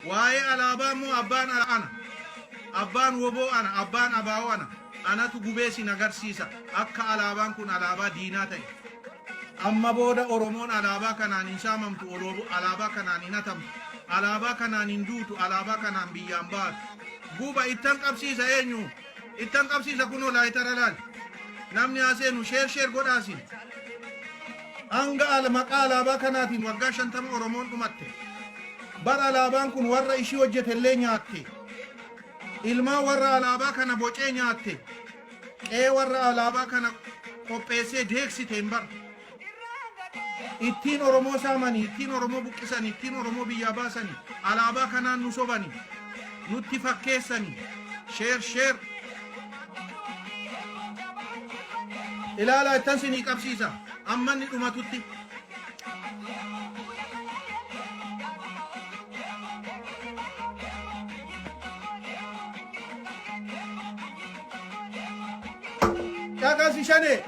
Waa'ee alaabaa immoo abbaan ala ana. Abbaan woboo ana, abbaan abaa'oo ana. Anatu gubee sin agarsiisa akka alaabaan kun alaabaa diinaa ta'e. Amma booda Oromoon alaabaa kanaan hin saamamtu, oloobo- alaabaa kanaan hin hatamtu, alaabaa kanaan hin duutu, alaabaa kanaan biyyaan baatu. Guba ittan qabsiisa eenyu? Ittan qabsiisa kunoo laayitara laali. Namni haa seenu sheer sheer godhaa siin. Hanga ala maqaa alaabaa kanaatiin waggaa shantama Oromoon dhumatte. Bar alaabaan kun warra ishii hojjete illee nyaatte. Ilmaan warra alaabaa kana bocee nyaatte. Qe'ee warra alaabaa kana qopheessee deeksite hin bar. Ittiin Oromoo saamani, ittiin Oromoo buqqisani, ittiin Oromoo biyyaa baasani, alaabaa kanaan nu sobani, nutti fakkeessani. Share share. Ilaalaa ittan sinii qabsiisa. Amma inni dhumatutti. Caqasi shanee.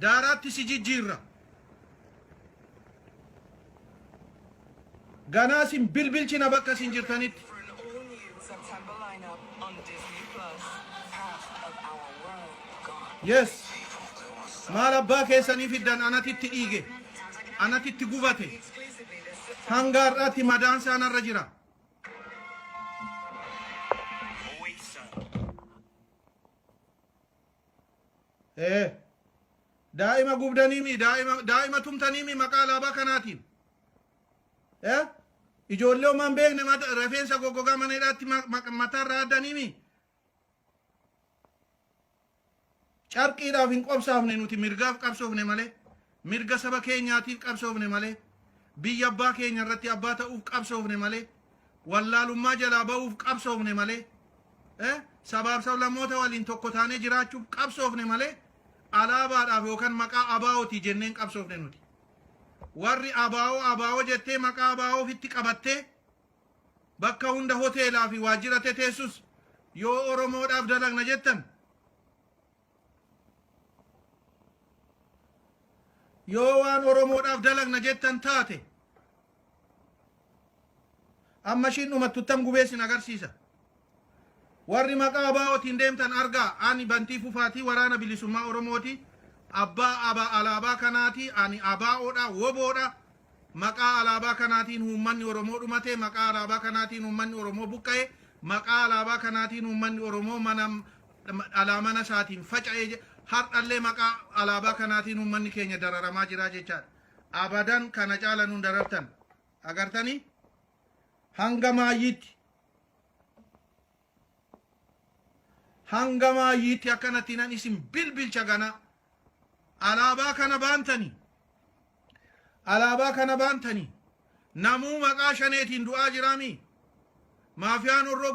Daaraatti si jijjiirra. Ganaa sin bilbilchina bakka sin jirtanitti. For an all-new September lineup on Disney Plus, half of our world gone. Yes. Maal abbaa keessanii fiddan anati itti dhiige. Anati itti gubate. Exclusively this September. Hanga har'aatti madaan isaa narra jira. ee daa'ima gubdaniimi daa'ima daa'ima tumtaniimi maqaa alaabaa kanaatiin ee ijoollee homaan beekne mata- rifeensa goggogaa mana hidhaatti ma- ma- mataarraa addaniimi carqiidhaaf hin qobsaafne nuti mirgaaf qabsoofne malee Mirga saba keenyaatiif qabsoofne malee, biyya abbaa keenya irratti abbaa ta'uuf qabsoofne malee, wallaalummaa jalaa ba'uuf qabsoofne malee, sabaaf sablammoota waliin tokko taanee jiraachuuf qabsoofne malee, alaabaadhaaf yookan maqaa ABO ti jennee hin qabsoofne nuti. Warri ABO ABO jettee maqaa ABO ofitti qabattee bakka hunda hoteelaa fi waajjira teteessus yoo Oromoodhaaf dalagna jettan, Yoo waan Oromoodhaaf dalagna jettan taate amma ishiin dhumattu ittan gubee isin agarsiisa. Warri maqaa ABOtiin deemtan argaa ani Bantii Fufaatii waraana bilisummaa Oromooti. Abbaa aba alaabaa kanaati ani ABOdha woboodha. Maqaa alaabaa kanaatiin uummanni Oromoo dhumate, maqaa alaabaa kanaatiin uummanni Oromoo buqqa'e, maqaa alaabaa kanaatiin uummanni Oromoo mana dhalaa mana isaatiin faca'ee jira. Har'allee maqaa alaabaa kanaatiin uummanni keenya dararamaa jira jechaadha. Abadan kana caala nun darartan. Agartanii? Hanga maayyiitti. Hanga maayyiitti akkanatti nan isin bilbilcha ganaa. Alaabaa kana baantanii. Alaabaa kana baantanii. Namuu maqaa shaneetiin du'aa jiraamii. Maafiyaan horroo